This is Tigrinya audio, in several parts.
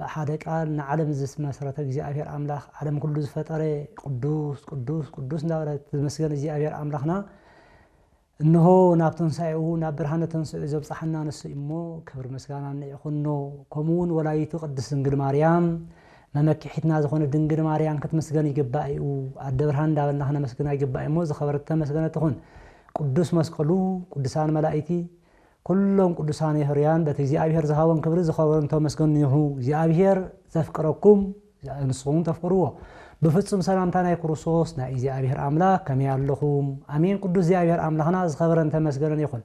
ብሓደ ቃል ንዓለም ዝመስረተ እግዚኣብሔር ኣምላኽ ዓለም ኩሉ ዝፈጠረ ቅዱስ ቅዱስ ቅዱስ እንዳበለት ዝመስገን እግዚኣብሔር ኣምላኽና እንሆ ናብ ተንሳኤኡ ናብ ብርሃነ ተንስኡ ዘብጽሓና ንሱ እሞ ክብር ምስጋና ንይኹኖ ከምኡውን ወላዲቱ ቅድስት ድንግል ማርያም መመኪሒትና ዝኾነ ድንግል ማርያም ክትመስገን ይግባእ እዩ ኣደ ብርሃን እንዳበልና ክነመስግና ይግባእ እሞ ዝኸበረት ተመስገነ ትኹን ቅዱስ መስቀሉ ቅዱሳን መላእቲ ኩሎም ቅዱሳን የሕሩያን በቲ እግዚኣብሔር ዝሃቦም ክብሪ ዝኸበሩ እንተመስገኑ ይሑ እግዚኣብሔር ዘፍቅረኩም ንስኹም ተፍቅርዎ ብፍጹም ሰላምታ ናይ ክርስቶስ ናይ እግዚኣብሔር ኣምላክ ከመይ ኣለኹም ኣሜን ቅዱስ እግዚኣብሔር ኣምላኽና ዝኸበረን ተመስገነን ይኹን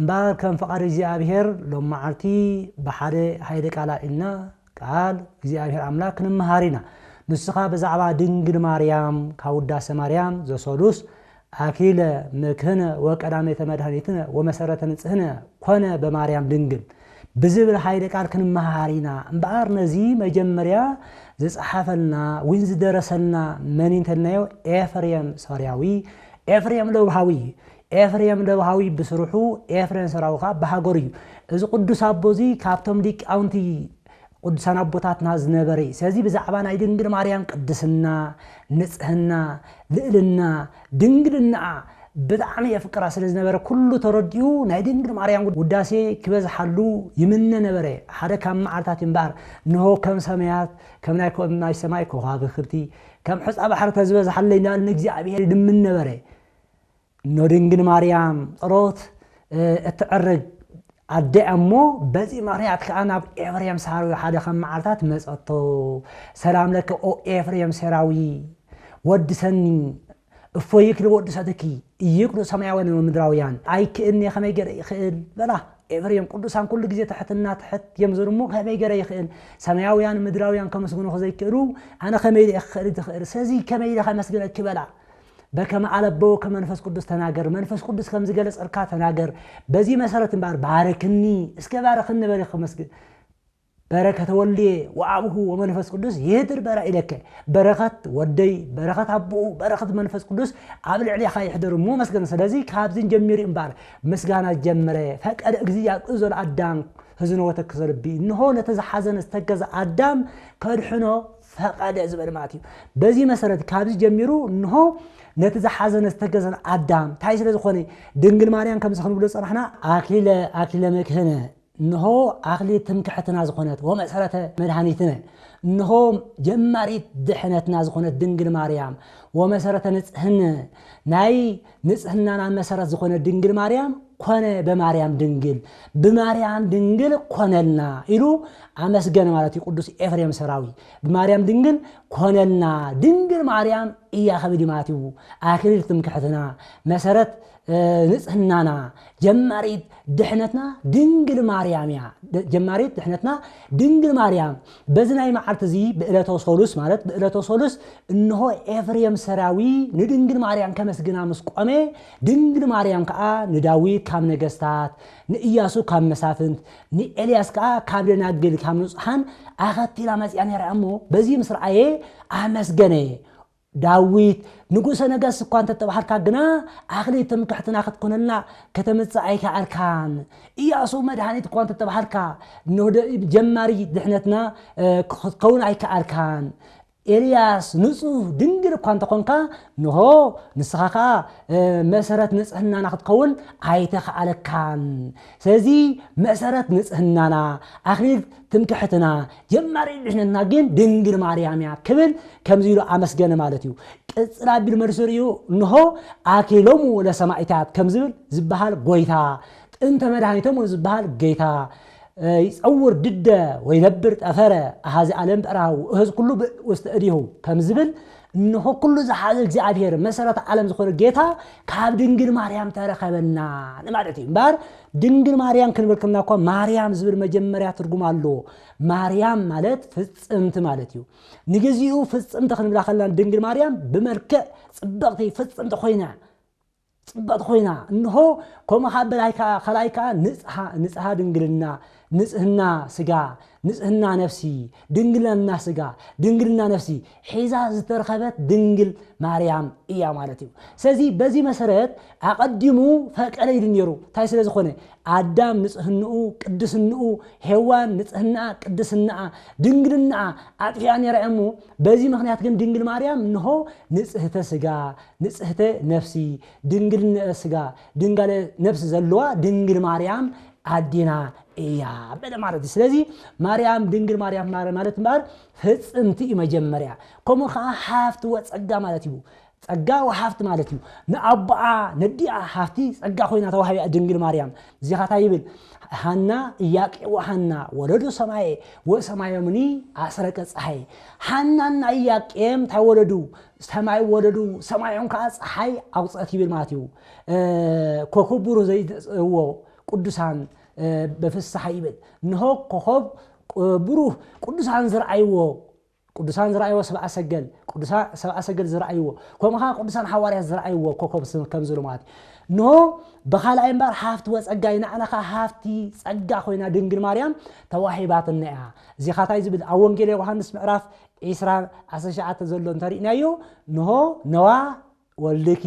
እምበኣር ከም ፍቓድ እግዚኣብሔር ሎም መዓልቲ ብሓደ ሃይለ ቃል ኣልና ቃል እግዚኣብሔር ኣምላክ ክንመሃር ኢና ንስኻ ብዛዕባ ድንግል ማርያም ካብ ውዳሴ ማርያም ዘሰሉስ ኣኪለ ምክነ ወቀዳሜተ መድኃኒትነ ወመሠረተ ንጽሕነ ኮነ በማርያም ድንግል ብዝብል ኃይለ ቃል ክንመሃር ኢና እምበኣር ነዚ መጀመርያ ዝጸሓፈልና ዊን ዝደረሰልና መን እንተልናዮ ኤፍሬም ሶርያዊ ኤፍሬም ለውሃዊ እዩ ኤፍሬም ለውሃዊ ብስርሑ ኤፍሬም ሶርያዊ ከዓ ብሃገሩ እዩ እዚ ቅዱስ ኣቦ እዚ ካብቶም ሊቃውንቲ ቅዱሳን ኣቦታትና ዝነበረ እዩ። ስለዚ ብዛዕባ ናይ ድንግል ማርያም ቅድስና፣ ንጽህና፣ ልእልና፣ ድንግልናኣ ብጣዕሚ የፍቅራ ስለ ዝነበረ ኩሉ ተረዲኡ ናይ ድንግል ማርያም ውዳሴ ክበዝሓሉ ይምነ ነበረ። ሓደ ካብ መዓልታት እዩ እምበኣር እንሆ ከም ሰማያት ከም ናይ ከም ናይ ሰማይ ከዋክብቲ ከም ሕጻ ባሕሪ ተዝበዝሓለይ እናበለ ንእግዚኣብሔር ይልምን ነበረ። እኖ ድንግል ማርያም ጸሎት እትዕርግ ኣደ እያ እሞ በዚ ምኽንያት ከዓ ናብ ኤፍሬም ሳራዊ ሓደ ከም መዓልታት መጸቶ ሰላም ለከ ኦ ኤፍሬም ሴራዊ ወዲ ሰኒ እፎ ይክል ወዲ ሰትኪ ይክሉ ሰማያውያን ወምድራውያን ኣይክእልኒ ከመይ ገረ ይኽእል በላ ኤፍሬም ቅዱሳን ኩሉ ግዜ ትሕትና ትሕት እዮም ዝብሉ እሞ ከመይ ገረ ይኽእል ሰማያውያን ምድራውያን ከመስግኑ ዘይክእሉ ኣነ ከመይ ኢለ ክኽእል ዝኽእል ስለዚ ከመይ ኢለ ከመስግነኪ በላ በከመ ኣለበወከ መንፈስ ቅዱስ ተናገር፣ መንፈስ ቅዱስ ከም ዝገለጸልካ ተናገር፣ በዚ መሰረት እምበኣር ባርክኒ፣ እስከ ባርኽኒ በሊ ከመስግን በረከተ ወልድየ ወኣብሁ ወመንፈስ ቅዱስ ይህድር በራ ኢለከ በረኸት ወደይ በረኸት ኣቦኡ በረኸት መንፈስ ቅዱስ ኣብ ልዕሌኻ ይሕደር እሞ መስገን ስለዚ ካብዚ ጀሚሩ እምበኣር ምስጋና ዝጀመረ ፈቀደ እግዚእ ኣብ እዞን ኣዳም ህዝኖ ወተክዘ ልቢ እንሆ ነቲ ዝሓዘነ ዝተገዘ ኣዳም ከድሕኖ ፈቐደ ዝበለ ማለት እዩ። በዚ መሰረት ካብዚ ጀሚሩ እንሆ ነቲ ዝሓዘነ ዝተከዘን ኣዳም ታይ ስለ ዝኾነ ድንግል ማርያም ከምዚ ክንብሎ ዝጸናሕና ኣክሊለ ኣክሊለ መድህነ እንሆ ኣክሊል ትምክሕትና ዝኾነት ወመሰረተ መድኃኒትነ እንሆ ጀማሪት ድሕነትና ዝኾነት ድንግል ማርያም ወመሰረተ ንጽህነ ናይ ንጽህናና መሰረት ዝኾነ ድንግል ማርያም ኮነ በማርያም ድንግል ብማርያም ድንግል ኮነልና ኢሉ ኣመስገነ ማለት እዩ ቅዱስ ኤፍሬም ሰራዊ ብማርያም ድንግል ኮነልና ድንግል ማርያም እያ ከብል ማለት እዩ ኣክሊል ትምክሕትና መሰረት ንጽህናና ጀማሪት ድሕነትና ድንግል ማርያም እያ ጀማሪት ድሕነትና ድንግል ማርያም በዚ ናይ መዓልቲ እዚ ብእለተ ሶሉስ ማለት ብእለተ ሶሉስ እንሆ ኤፍሬም ሰራዊ ንድንግል ማርያም ከመስግና ምስ ቆመ ድንግል ማርያም ከዓ ንዳዊት ካብ ነገስታት ንእያሱ ካብ መሳፍንት ንኤልያስ ከዓ ካብ ደናግል ካብ ንጹሓን ኣኸቲላ መጽያ ነይራ እሞ በዚ ምስ ረኣየ ኣመስገነ ዳዊት፣ ንጉሰ ነገስት እኳ እንተ ተባህልካ ግና፣ ኣኽሊ ትምክሕትና ክትኰነልና ከተምጽእ ኣይከኣልካን። እያሱ፣ መድሃኒት እኳ እንተ ተባህልካ፣ እነሆ ጀማሪ ድሕነትና ክትከውን ኣይከኣልካን። ኤልያስ፣ ንጹህ ድንግል እኳ እንተ ዀንካ፣ እንሆ ንስኻ ኸኣ መሰረት ንጽህናና ክትከውን ኣይተኻእለካን። ስለዚ መሰረት ንጽህናና፣ ኣኽሊል ትምክሕትና፣ ጀማሪት ድሕነትና ግን ድንግል ማርያም እያ ክብል ከምዚ ኢሉ ኣመስገነ ማለት እዩ። ቅጽል ኣቢሉ መልሱ ርእዩ እንሆ ኣክሊሎሙ ለሰማኢታት ከም ዝብል ዝበሃል ጎይታ፣ ጥንተ መድኃኒቶሙ ዝበሃል ገይታ፣ ይጸውር ድደ ወይነብር ጠፈረ ኣኀዚ ዓለም በእራሁ እህዝ ኩሉ ብእድ ውስተ እዴሁ ከም ዝብል እንሆ ኩሉ ዝሓዘ እግዚኣብሔር መሰረተ ዓለም ዝኾነ ጌታ ካብ ድንግል ማርያም ተረከበና ንማለት እዩ እምበር ድንግል ማርያም ክንብል ከለና እኳ ማርያም ዝብል መጀመርያ ትርጉም ኣለዎ። ማርያም ማለት ፍጽምቲ ማለት እዩ። ንግዚኡ ፍጽምቲ ክንብላ ከለና ድንግል ማርያም ብመልክዕ ጽብቕቲ ፍጽምቲ ኮይና ጽብቕቲ ኮይና እንሆ ከምኡ ካብ በላይ ካልኣይ ከዓ ንጽሓ ንጽሓ ድንግልና ንጽህና ስጋ፣ ንጽህና ነፍሲ፣ ድንግልና ስጋ፣ ድንግልና ነፍሲ ሒዛ ዝተረኸበት ድንግል ማርያም እያ ማለት እዩ። ስለዚ በዚ መሰረት ኣቐዲሙ ፈቀደ ኢሉ ነይሩ። እንታይ ስለ ዝኾነ ኣዳም ንጽህንኡ፣ ቅድስንኡ፣ ሄዋን ንጽህናኣ፣ ቅድስናኣ፣ ድንግልናኣ ኣጥፊኣ ነይራ እሞ በዚ ምክንያት ግን ድንግል ማርያም እንሆ ንጽህተ ስጋ፣ ንጽህተ ነፍሲ፣ ድንግልነ ስጋ፣ ድንጋለ ነፍሲ ዘለዋ ድንግል ማርያም ኣዴና እያ በለ ማለት እዩ ስለዚ ማርያም ድንግል ማርያም ማረ ማለት እምበኣር ፍፅምቲ እዩ መጀመርያ ከምኡ ከዓ ሃፍቲ ወፀጋ ማለት እዩ ፀጋ ወሃፍቲ ማለት እዩ ንኣቦኣ ነዲኣ ሃፍቲ ፀጋ ኮይና ተዋህቢያ ድንግል ማርያም እዚኻታ ይብል ሃና እያቄ ወሃና ወለዱ ሰማየ ወሰማዮምኒ ኣስረቀ ፀሐይ ሃናና እያቄም እንታይ ወለዱ ሰማይ ወለዱ ሰማዮም ከዓ ፀሓይ ኣውፅአት ይብል ማለት እዩ ኮኩቡሩ ዘይትጽእዎ ቅዱሳን በፍስሓ ይብል እንሆ ኮኸብ ብሩህ ቅዱሳን ዝረኣይዎ ቅዱሳን ዝረኣይዎ ሰብኣ ሰገል ቅዱሳ ሰብኣ ሰገል ዝረኣይዎ ከምኡ ከዓ ቅዱሳን ሓዋርያት ዝረኣይዎ ኮከብ ከም ዝልማት እንሆ ብካልኣይ እምበር ሃፍቲ ወፀጋ ይናዕና ከዓ ሃፍቲ ፀጋ ኮይና ድንግል ማርያም ተዋሂባትና እያ እዚኻ እንታይ ዝብል ኣብ ወንጌል ዮሃንስ ምዕራፍ ዒስራ ዓሰርተ ሸዓተ ዘሎ እንተሪእናዮ እንሆ ነዋ ወልድኪ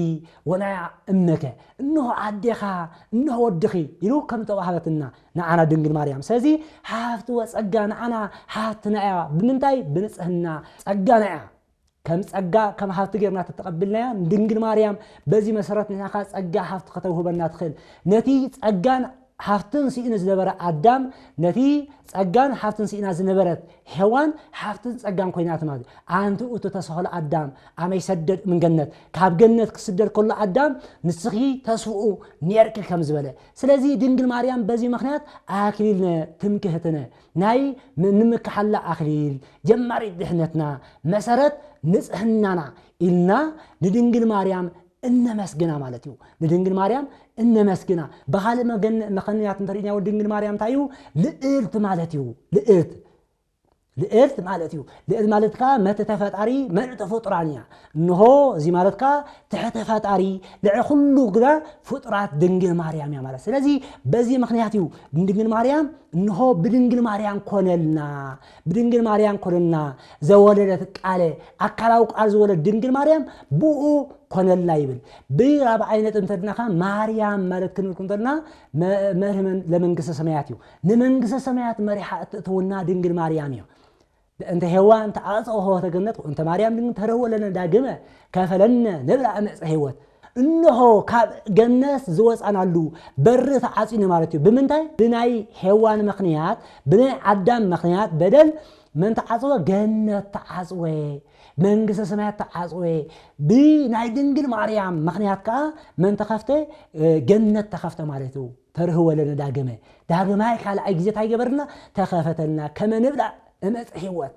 ወናያ እምነከ እንሆ ኣዴኻ እንሆ ወድኺ ኢሉ ከም እተዋህበትና ንዓና ድንግል ማርያም ስለዚ ሃብቲ ወጸጋ ንዓና ሃብትና እያ ብምንታይ ብንጽህና ጸጋና እያ ከም ጸጋ ከም ሃብቲ ጌርና ተተቐብልናያ ንድንግል ማርያም በዚ መሰረት ንሕና ከኣ ጸጋ ሃብቲ ከተውህበና ትኽእል ነቲ ጸጋን ሃፍትን ስኢኑ ዝነበረ ኣዳም ነቲ ጸጋን ሃፍትን ስኢና ዝነበረት ሄዋን ሃፍትን ጸጋን ኮይናት ማለት እዩ። ኣንቲ እቱ ተሰኸሎ ኣዳም ኣመይ ሰደድ እምገነት ካብ ገነት ክስደድ ከሎ ኣዳም ንስኺ ተስፍኡ ኔርኪ ከም ዝበለ ስለዚ ድንግል ማርያም በዚ ምክንያት ኣክሊልነ ትምክህትነ ናይ ንምክሓላ ኣክሊል ጀማሪት ድሕነትና መሰረት ንጽህናና ኢልና ንድንግል ማርያም እነመስግና ማለት እዩ። ንድንግል ማርያም እነመስግና። ብኻልእ መገን መኸንያት እንተሪእናዮ ድንግል ማርያም እንታይ እዩ? ልእልት ማለት እዩ። ልእልት ልእልት ማለት እዩ። ልእልት ማለት ከዓ መትተ ፈጣሪ መልእተ ፍጡራን እያ። እንሆ እዚ ማለት ከዓ ትሕተ ፈጣሪ ልዕ ኩሉ ግና ፍጡራት ድንግል ማርያም እያ ማለት። ስለዚ በዚ ምክንያት እዩ ድንግል ማርያም እንሆ ብድንግል ማርያም ኮነልና ብድንግል ማርያም ኮነልና ዘወለደት ቃለ ኣካላዊ ቃል ዝወለድ ድንግል ማርያም ብኡ ኮነልና ይብል ብራብዓይ ነጥብ እንተድናካ ማርያም ማለት ክንብል እንተድና መርህ ለመንግስተ ሰማያት እዩ ንመንግስተ ሰማያት መሪሓ እትእትውና ድንግል ማርያም እዩ እንተ ሄዋን ተዓፀ ሆወተ ገነት እንተ ማርያም ድንግል ተረወለነ ዳግመ ከፈለነ ንብላ እምዕፀ ህይወት እንሆ ካብ ገነት ዝወፃናሉ በሪ ተዓፅዩኒ ማለት እዩ። ብምንታይ? ብናይ ሔዋን ምኽንያት፣ ብናይ ኣዳም ምኽንያት በደል መን ተዓፅወ? ገነት ተዓፅወ፣ መንግስተ ሰማያት ተዓፅወ። ብናይ ድንግል ማርያም ምኽንያት ከዓ መን ተኸፍተ? ገነት ተኸፍተ ማለት እዩ። ተርህወ ለነ ዳግመ ዳግማይ ካልኣይ ግዜ እንታይ ገበርና? ተኸፈተልና ከመ ንብላዕ እመፀ ህይወት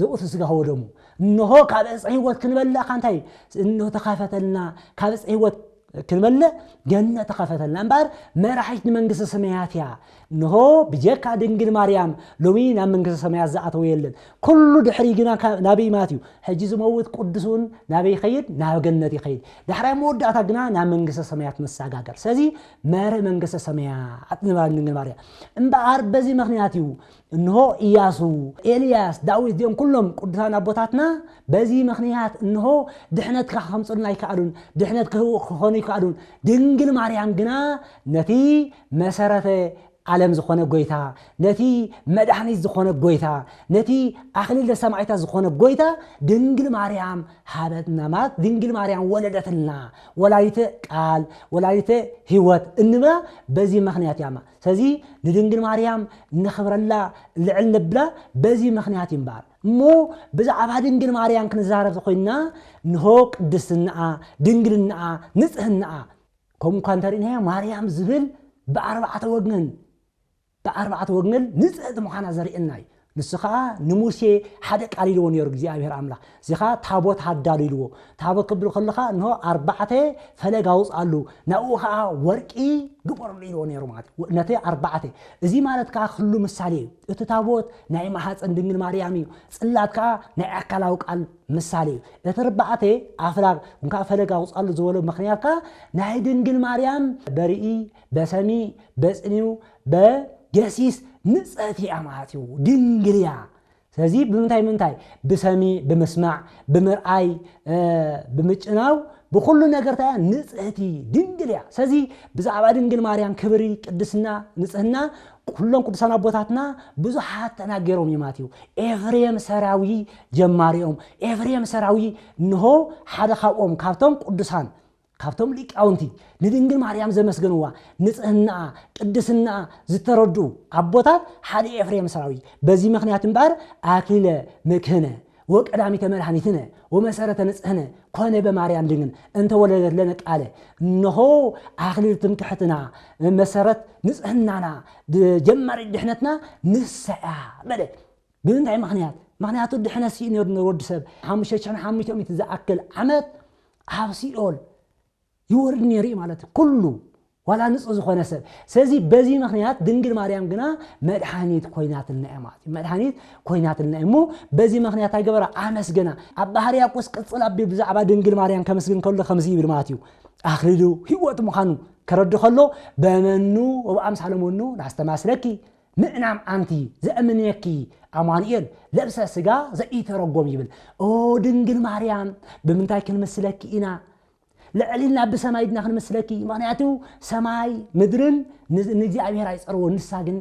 ዘውእቱ ስጋሁ ወደሙ እንሆ ካብ ዕፀ ህይወት ክንበልዕ እካ እንታይ እንሆ ተኸፈተልና ካብ ዕፀ ህይወት ክንበልዕ ገነት ተኸፈተልና እምበኣር መራሒት ንመንግስቲ ሰማያት እያ እንሆ ብጀካ ድንግል ማርያም ሎሚ ናብ መንግስቲ ሰማያት ዝኣተወ የለን ኩሉ ድሕሪ ግና ናበይ ማት እዩ ሕጂ ዝመውት ቅዱስ እውን ናበይ ይኸይድ ናብ ገነት ይኸይድ ዳሕራይ መወዳእታ ግና ናብ መንግስተ ሰማያት መሰጋገር ስለዚ መርህ መንግስተ ሰማያት ንባል ድንግል ማርያም እምበኣር በዚ ምክንያት እዩ እንሆ ኢያሱ፣ ኤልያስ፣ ዳዊት እዚኦም ኩሎም ቅዱሳን ኣቦታትና በዚ ምኽንያት እንሆ ድሕነት ክኸምጽኡልና ኣይከኣሉን፣ ድሕነት ክህቡ ክኾኑ ኣይከኣሉን፣ ድንግል ማርያም ግና ነቲ መሰረተ ዓለም ዝኾነ ጎይታ ነቲ መድኃኒት ዝኾነ ጎይታ ነቲ ኣክሊለ ሰማዕታት ዝኾነ ጎይታ ድንግል ማርያም ሃበትና ማለት ድንግል ማርያም ወለደትልና ወላዲተ ቃል ወላዲተ ሕይወት እንብላ በዚ ምኽንያት እያማ ሰዚ ንድንግል ማርያም እነኽብረላ ልዕል ነብላ በዚ ምኽንያት እዩ እምበኣር። እሞ ብዛዕባ ድንግል ማርያም ክንዛረብ ተኾይንና እንሆ ቅድስንኣ፣ ድንግልንኣ፣ ንጽህንኣ ከምኡ እኳ እንተርኢናዮ ማርያም ዝብል ብኣርባዕተ ወግነን ብኣርባዕተ ወግነል ንጽህቲ ምዃና ዘርእየና እዩ። ንሱ ኸኣ ንሙሴ ሓደ ቃል ኢልዎ ነይሩ እግዚኣብሄር ኣምላኽ። እዚ ኸኣ ታቦት ኣዳሉ ኢልዎ። ታቦት ክብል ከሎ ኸኣ እንሆ ኣርባዕተ ፈለግ ኣውጽኣሉ፣ ናብኡ ኸኣ ወርቂ ግበረሉ ኢልዎ ነይሩ ማለት እዩ። ነቲ ኣርባዕተ እዚ ማለት ከኣ ክሉ ምሳሌ እዩ። እቲ ታቦት ናይ ማህጸን ድንግል ማርያም እዩ። ጽላት ከኣ ናይ ኣካላዊ ቃል ምሳሌ እዩ። እቲ ኣርባዕተ ኣፍላግ ወይ ከኣ ፈለግ ኣውጽኣሉ ዝበሎ ምኽንያት ከኣ ናይ ድንግል ማርያም በርኢ፣ በሰሚ፣ በጽኒው፣ በገሲስ ንጽሕቲ እያ ማለት እዩ፣ ድንግል እያ። ስለዚ ብምንታይ ምንታይ ብሰሚ ብምስማዕ ብምርኣይ ብምጭናው ብኩሉ ነገር እንታይ እያ ንጽህቲ ድንግል እያ ስለዚ ብዛዕባ ድንግል ማርያም ክብሪ ቅድስና ንጽህና ኩሎም ቅዱሳን ኣቦታትና ብዙሓት ተናገሮም እዮም ማለት እዩ ኤፍሬም ሰራዊ ጀማሪኦም ኤፍሬም ሰራዊ እንሆ ሓደ ካብኦም ካብቶም ቅዱሳን ካብቶም ሊቃውንቲ ንድንግል ማርያም ዘመስገንዋ ንጽህናኣ ቅድስናኣ ዝተረድኡ ኣቦታት ሓደ ኤፍሬም ሰራዊ በዚ ምክንያት እምበኣር ኣክሊለ ምክህነ ወቀዳሚተ መድኃኒትነ ወመሰረተ ንጽህነ ኮነ በማርያም ድንግል እንተወለደት ለነ ቃለ እነሆ ኣክሊል ትምክሕትና መሰረት ንጽህናና ጀማሪ ድሕነትና ንሰያ በለ ብምንታይ ምክንያት ምክንያቱ ድሕነት ስኢኑ ነሩ ወዲ ሰብ ሓሙሽተ ሽሕን ሓሙሽተ ሚእቲ ዝኣክል ዓመት ኣብ ሲኦል ይወርድ ነይሩ እዩ ማለት እዩ ኩሉ ዋላ ንጹህ ዝኾነ ሰብ ስለዚ በዚ ምክንያት ድንግል ማርያም ግና መድሓኒት ኮይናትና እያ ማለት እዩ መድሓኒት ኮይናትና እሞ በዚ ምክንያት ኣይገበራ ኣመስገና ኣብ ባህር ያቆስ ቅፅል ኣቢል ብዛዕባ ድንግል ማርያም ከምስግን ከሎ ከምዚ ይብል ማለት እዩ ኣክሊሉ ህይወት ምዃኑ ከረዱ ከሎ በመኑ ወብኣምሳለ መኑ ናስተማስለኪ ምእናም ኣንቲ ዘእምነኪ ኣማኑኤል ለብሰ ስጋ ዘኢተረጎም ይብል ኦ ድንግል ማርያም ብምንታይ ክንምስለኪ ኢና ልዕሊልና ብሰማይ ድና ክንምስለኪ ምክንያቱ ሰማይ ምድርን ንእግዚኣብሔር ኣይፀርዎ ንሳ ግን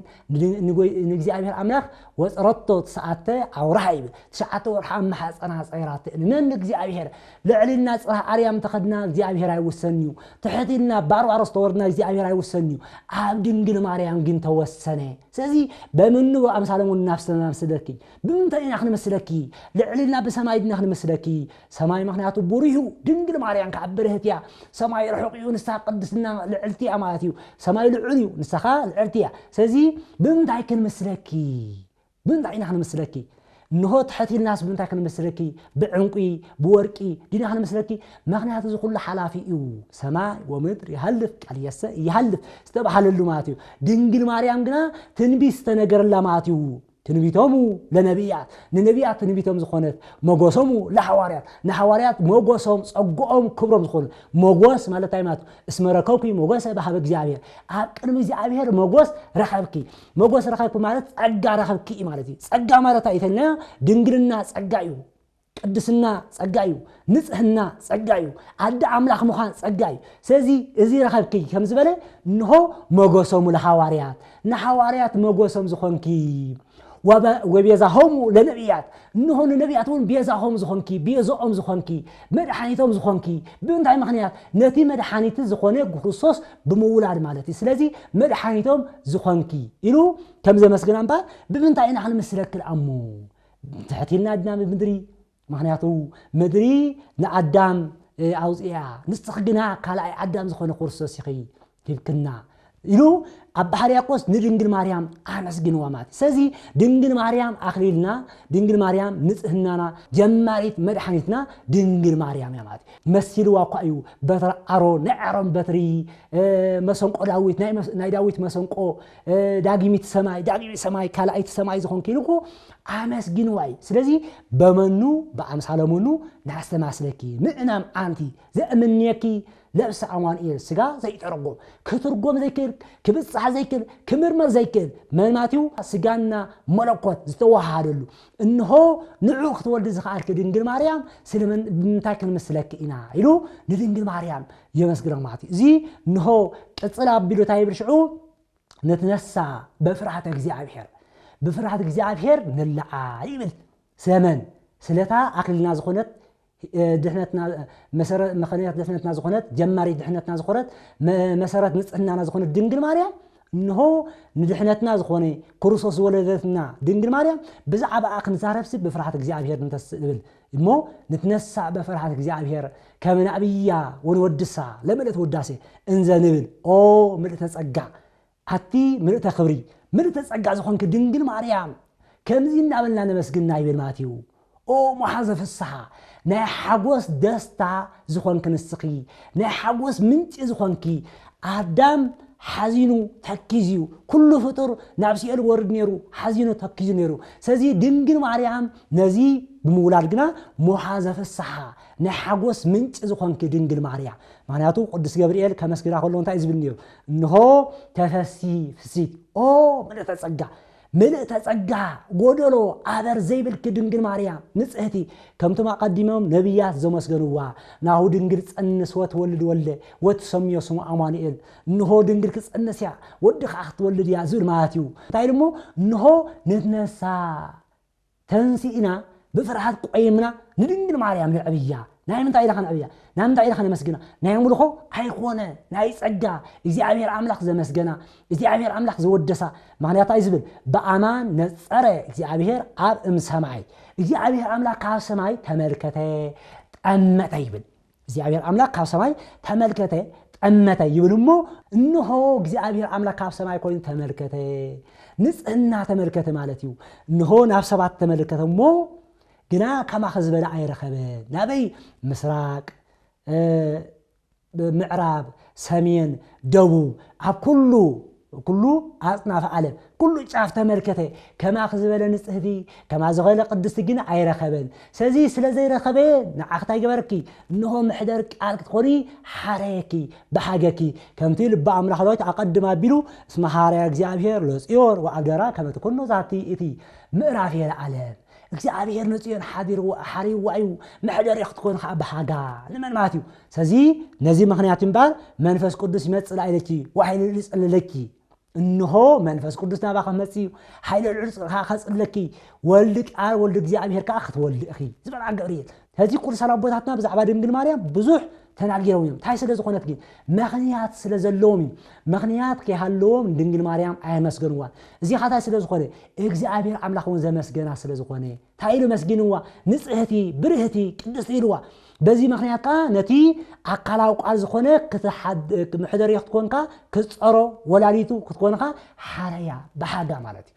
ንእግዚኣብሔር ኣምላኽ ወፅረቶ ትስዓተ ኣውርሃ ይብል ትሽዓተ ወርሓ ኣብ ማሕፀና ፀይራቶ ንእግዚኣብሔር ልዕል ኢልና ጽባህ ኣርያም እንተኸድና እግዚኣብሔር ኣይውሰንን እዩ፣ ትሕት ኢልና ባርባሮስ ተወርድና እግዚኣብሔር ኣይውሰንን እዩ፣ ኣብ ድንግል ማርያም ግን ተወሰነ። ስለዚ በምኑ ብኣምሳለ ወኑ ናፍስና ንመስለኪ? ብምንታይ ኢና ክንመስለኪ? ልዕል ኢልና ብሰማይ ድና ክንመስለኪ? ሰማይ ምክንያቱ ብሩህ እዩ፣ ድንግል ማርያም ከዓ ብርህት እያ። ሰማይ ርሑቕ እዩ፣ ንሳ ቅድስና ልዕልቲ እያ ማለት እዩ። ሰማይ ልዑል እዩ፣ ንሳ ከዓ ልዕልቲ እያ። ስለዚ ብምንታይ ክንመስለኪ? ብምንታይ ኢና ክንምስለኪ? እንሆ ትሕት ኢልናስ ብምንታይ ክንምስለኪ? ብዕንቊ፣ ብወርቂ፣ ዲና ክንምስለኪ? ምኽንያቱ እዚ ዅሉ ሓላፊ እዩ። ሰማይ ወምድር ይሃልፍ፣ ቃልየሰ ኢይሃልፍ ዝተብሃለሉ ማለት እዩ። ድንግል ማርያም ግና ትንቢት ዝተነገረላ ማለት እዩ። ትንቢቶሙ ለነብያት፣ ንነብያት ትንቢቶም ዝዀነት፣ መጐሶሙ ለሓዋርያት፣ ንሓዋርያት መጐሶም፣ ጸግኦም፣ ክብሮም ዝዀነት። መጐስ ማለት እንታይ ማለት እዩ? እስመ ረከብኪ መጐሰ በኀበ እግዚኣብሔር፣ ኣብ ቅድሚ እግዚኣብሔር መጐስ ረኸብኪ። መጎስ ረኸብኪ ማለት ጸጋ ረኸብኪ እዩ ማለት እዩ። ጸጋ ማለት ኣይ ተልናዮ ድንግልና ጸጋ እዩ። ቅድስና ጸጋ እዩ። ንጽህና ጸጋ እዩ። ኣደ ኣምላኽ ምዃን ጸጋ እዩ። ስለዚ እዚ ረኸብኪ ከም ዝበለ እንሆ መጎሶሙ ለሃዋርያት ንሃዋርያት መጎሶም ዝኾንኪ ወቤዛሆሙ ለነቢያት እንሆ ንነቢያት እውን ቤዛሆም ዝኾንኪ ቤዞኦም ዝኾንኪ መድሓኒቶም ዝኾንኪ ብእንታይ ምኽንያት ነቲ መድሓኒቲ ዝኾነ ጉክርስቶስ ብምውላድ ማለት እዩ ስለዚ መድሓኒቶም ዝኾንኪ ኢሉ ከም ዘመስግና እምበር ብምንታይ ኢና ክንምስለኪ ደኣ እሞ ትሕቲልና ድና ብምድሪ ምክንያቱ ምድሪ ንኣዳም ኣውፅኣ ንስኽ ግና ካልኣይ ኣዳም ዝኾነ ክርስቶስ ኢኺ ሂብክና ኢሉ ኣባ ሕርያቆስ ንድንግል ማርያም ኣመስግንዋ ማለት ስለዚ ድንግል ማርያም ኣኽሊልና ድንግል ማርያም ንጽህናና ጀማሪት መድሓኒትና ድንግል ማርያም እያ ማለት መሲልዋ እኳ እዩ በትረ ኣሮን ናይ ኣሮን በትሪ መሰንቆ ዳዊት ናይ ዳዊት መሰንቆ ዳግሚት ሰማይ ዳግሚት ሰማይ ካልኣይቲ ሰማይ ዝኾንኪ ኢሉ እኮ ኣመስግንዋ እዩ ስለዚ በመኑ ብኣምሳለ መኑ ናስተማስለኪ ምእናም ኣንቲ ዘእምንየኪ ነብሲ ኣማኑኤል ስጋ ዘይጠርጎ ክትርጎም ዘይክእል ክብጻሕ ዘይክእል ክምርመር ዘይክእል መንማትዩ ስጋና መለኮት ዝተወሃሃደሉ እንሆ ንዑ ክትወልዲ ዝኸኣልኪ ድንግል ማርያም ስለምን ብምንታይ ክንምስለኪ ኢና ኢሉ ንድንግል ማርያም የመስግና ማለት እዩ እዚ እንሆ ቅጽል ኣቢሉ እንታይ ይብል ሽዑ ንትነሳ በፍርሃተ እግዚኣብሔር ብፍርሃት እግዚኣብሔር ንለዓ ይብል ስለመን ስለታ ኣክልና ዝኾነት ድሕነትና መሰረት ምክንያት ድሕነትና ዝኾነት ጀማሪት ድሕነትና ዝኾነት መሰረት ንጽህናና ዝኾነት ድንግል ማርያም እንሆ ንድሕነትና ዝኾነ ክርስቶስ ዝወለደትና ድንግል ማርያም ብዛዕባኣ ክንዛረብሲ ብፍርሃት እግዚኣብሔር ንተስእ ንብል እሞ ንትነሳእ በፍርሃት እግዚኣብሔር ከመ ናእብያ ወንወድሳ ለምእለት ውዳሴ እንዘ ንብል ኦ ምልእተ ጸጋ ኣቲ ምልእተ ክብሪ ምልእተ ጸጋ ዝኾንኪ ድንግል ማርያም ከምዚ እናበልና ነመስግና ይብል ማቴው ኦ መሓዘ ፍስሓ ናይ ሓጎስ ደስታ ዝኾንኪ ንስኺ ናይ ሓጎስ ምንጪ ዝኾንኪ ኣዳም ሓዚኑ ተኪዝዩ ኩሉ ፍጡር ናብ ሲኦል ወርድ ነይሩ ሓዚኑ ተኪዙ ነይሩ ስለዚ ድንግል ማርያም ነዚ ብምውላድ ግና መሓዘ ፍስሓ ናይ ሓጎስ ምንጪ ዝኾንኪ ድንግል ማርያም ምክንያቱ ቅዱስ ገብርኤል ከመስግና ከሎ እንታይ ዝብል ነይሩ እንሆ ተፈሲ ፍሲት ኦ ምልእተ ጸጋ ምልእተ ጸጋ ጎደሎ ኣበር ዘይብልኪ ድንግል ማርያም ንጽህቲ ከምቶም ኣቐዲሞም ነቢያት ዘመስገንዋ ናሁ ድንግል ጸንስ ወትወልድ ወልደ ወትሰምዮ ስሙ ኣማኑኤል እንሆ ድንግል ክጸንስ እያ ወዲ ከዓ ክትወልድ እያ ዝብል ማለት እዩ እንታይ ኢሉ እሞ እንሆ ንትነሳ ተንሲእና ብፍርሃት ቆይምና ንድንግል ማርያም ነዕብያ ናይ ምንታይ ኢልና ከነዕብያ ናይ ምንታይ ኢልና ከነመስግና ናይ ኣምልኾ ኣይኮነ ናይ ጸጋ እግዚኣብሔር ኣምላኽ ዘመስገና እግዚኣብሔር ኣምላኽ ዘወደሳ ምክንያት እንታይ ዝብል ብኣማን ነጸረ እግዚኣብሔር ኣብ እምሰማይ እግዚኣብሔር ኣምላኽ ካብ ሰማይ ተመልከተ ጠመተ ይብል እግዚኣብሄር ኣምላክ ካብ ሰማይ ተመልከተ ጠመተ ይብል እሞ እንሆ እግዚኣብሄር ኣምላክ ካብ ሰማይ ኮይኑ ተመልከተ ንጽህና ተመልከተ ማለት እዩ እንሆ ናብ ሰባት ተመልከተ እሞ ግና ከማኸ ዝበለ ኣይረኸበ ናበይ ምስራቅ ምዕራብ ሰሜን ደቡብ ኣብ ኩሉ ኩሉ ኣጽናፈ ዓለም ኩሉ ጫፍ ተመልከተ ከማኺ ዝበለ ንጽህቲ ከማ ዝኸለ ቅድስቲ ግን ኣይረኸበን ሰዚ ስለ ዘይረኸበ ንዓኺ ታይ ገበረኪ እንሆ ምሕደር ቃል ክትኾኒ ሓረየኪ በሃገኪ ከምቲ ልበ ኣምላኽ ዳዊት ኣቀድም ኣቢሉ እስመ ሃረያ እግዚኣብሔር ለጽዮን ወኣብደራ ከመ ትኩኖ ዛቲ እቲ ምእራፍ የለዓለ እግዚኣብሄር ንጽዮን ሓቢርዋ ሓርይዋ እዩ፣ መሕደሪ ክትኮን ኸኣ ብሃጋ ንመን ማለት እዩ። ስለዚ ነዚ ምኽንያት እዩ እምበኣር መንፈስ ቅዱስ ይመጽእ ላዕሌኪ ወሓይሊ ልዑል ይጸልለኪ፣ እንሆ፣ መንፈስ ቅዱስ ናባኺ ክመጽእ እዩ፣ ሓይሊ ልዑል ኸኣ ከጽልለኪ፣ ወልድ ቃል ወልድ እግዚኣብሄር ከኣ ክትወልዲ ኢኺ ዝበላ ገብርኤል። ሕዚ ቅዱሳን ኣቦታትና ብዛዕባ ድንግል ማርያም ብዙሕ ተናጊሮም እዮም እንታይ ስለ ዝኾነት ግን ምኽንያት ስለ ዘለዎም እዩ ምኽንያት ከይሃለዎም ድንግል ማርያም ኣየመስገንዋን እዚ ካታይ ስለ ዝኾነ እግዚኣብሔር ኣምላኽ እውን ዘመስገና ስለ ዝኾነ እንታይ ኢሉ መስጊንዋ ንጽህቲ ብርህቲ ቅድስቲ ኢልዋ በዚ ምክንያት ከዓ ነቲ ኣካላዊ ቃል ዝኾነ ምሕደሪ ክትኮንካ ክትፀሮ ወላዲቱ ክትኮንካ ሓረያ ብሓጋ ማለት እዩ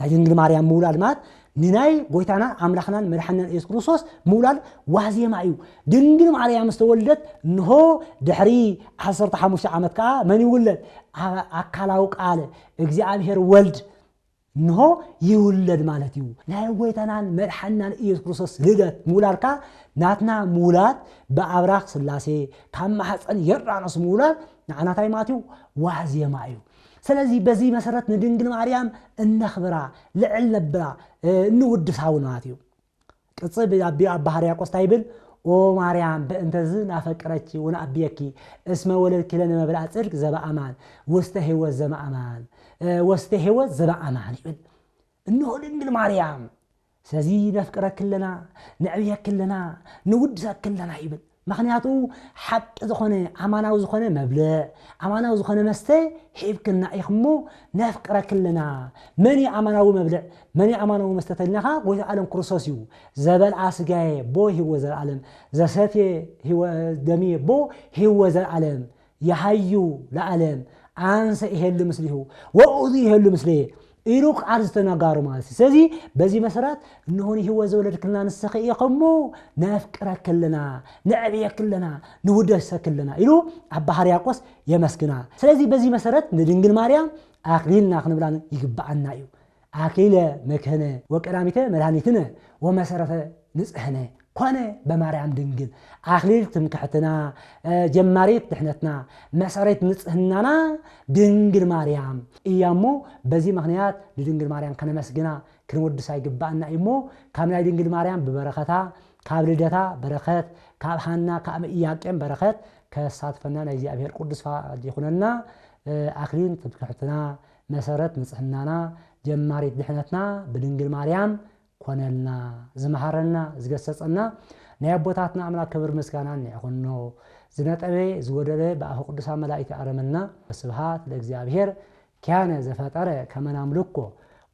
ናይ ድንግል ማርያም ምውላድ ማለት ንናይ ጎይታናን ኣምላኽናን መድሓንናን ኢየሱስ ክርስቶስ ምውላድ ዋዜማ እዩ። ድንግል ማርያም ዝተወልደት እንሆ ድሕሪ ዓሰርተ ሓሙሽተ ዓመት ከዓ መን ይውለድ? ኣካላዊ ቃል እግዚኣብሔር ወልድ እንሆ ይውለድ ማለት እዩ። ናይ ጎይታናን መድሓንናን ኢየሱስ ክርስቶስ ልደት ምውላድ ከዓ ናትና ምውላድ ብኣብራኽ ስላሴ ካብ ማሕፀን የርዳኖስ ምውላድ ንዓናታይ ማለት እዩ ዋዜማ እዩ። ስለዚ በዚ መሰረት ንድንግል ማርያም እነኽብራ፣ ልዕል ነብላ፣ እንውድሳ እውን ማለት እዩ። ቅጽ ብኣቢ ኣባ ሕርያቆስ እንታይ ይብል? ኦ ማርያም በእንተዝ ናፈቅረኪ ወንኣብየኪ እስመ ወለድኪ ለነ መብልኣ ጽድቅ ዘበኣማን ውስተ ሕይወት ዘመኣማን ወስተ ሕይወት ዘበኣማን ይብል። እነሆ ድንግል ማርያም ስለዚ ነፍቅረኪ ኣለና ነዕብየኪ ኣለና ንውድሰኪ ኣለና ይብል ምክንያቱ ሓቂ ዝኮነ ኣማናዊ ዝኮነ መብልዕ ኣማናዊ ዝኮነ መስተ ሂብክና ኢኪ እሞ ነፍቅረኪ ኣለና መን እዩ ኣማናዊ መብልዕ መን እዩ ኣማናዊ መስተ ተልናካ ጎይታ ኣለም ክርስቶስ እዩ ዘበልኣ ስጋየ ቦ ሂወ ዘልኣለም ዘሰትየ ደምየ ቦ ሂወ ዘልኣለም ይሃዩ ለዓለም ኣንሰ ኢሄሉ ምስሊሁ ወኡዙ ኢሄሉ ምስሌ ኢሉ ቃል ዝተነጋሩ ማለት እዩ ስለዚ በዚ መሰረት እንሆ ንህይወት ዝወለድክልና ንስኺ ኢኺ እሞ ነፍቅረኪ ኣለና ነዕብየኪ ኣለና ንውደሰኪ ኣለና ኢሉ ኣባ ሕርያቆስ የመስግና ስለዚ በዚ መሰረት ንድንግል ማርያም ኣክሊልና ክንብላ ይግብኣና እዩ ኣክሊለ መድኅነ ወቀዳሚተ መድኃኒትነ ወመሠረተ ንጽሕነ ኮነ በማርያም ድንግል ኣክሊል ትምክሕትና ጀማሪት ድኅነትና መሠሬት ንጽሕናና ድንግል ማርያም እያ እሞ በዚ ምኽንያት ንድንግል ማርያም ከነመስግና ክንወድሳ ይግብኣና እዩ እሞ ካብ ናይ ድንግል ማርያም ብበረከታ ካብ ልደታ በረከት ካብ ሃና ካብ ኢያቄም በረከት ከሳትፈና ናይ እግዚኣብሔር ቅዱስ ፈቃድ ይኹነና ኣክሊል ትምክሕትና መሰረት ንጽህናና ጀማሪት ድሕነትና ብድንግል ማርያም ኮነልና ዝመሃረና ዝገሰጸና ናይ ኣቦታትና ኣምላክ ክብር ምስጋናን ይዕኹኖ ዝነጠበ ዝጎደለ ብኣፈ ቅዱሳን መላኢክት ይኣረመልና ወስብሃት ለእግዚኣብሔር ኪያነ ዘፈጠረ ከመ ናምልኮ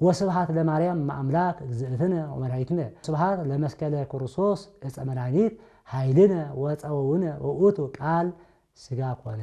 ወስብሃት ለማርያም እመ ኣምላክ እግዝእትነ ወመድኃኒትነ ስብሃት ለመስቀለ ክርስቶስ እፀ መድኃኒት ኃይልነ ወፀወውነ ወውእቱ ቃል ስጋ ኮነ።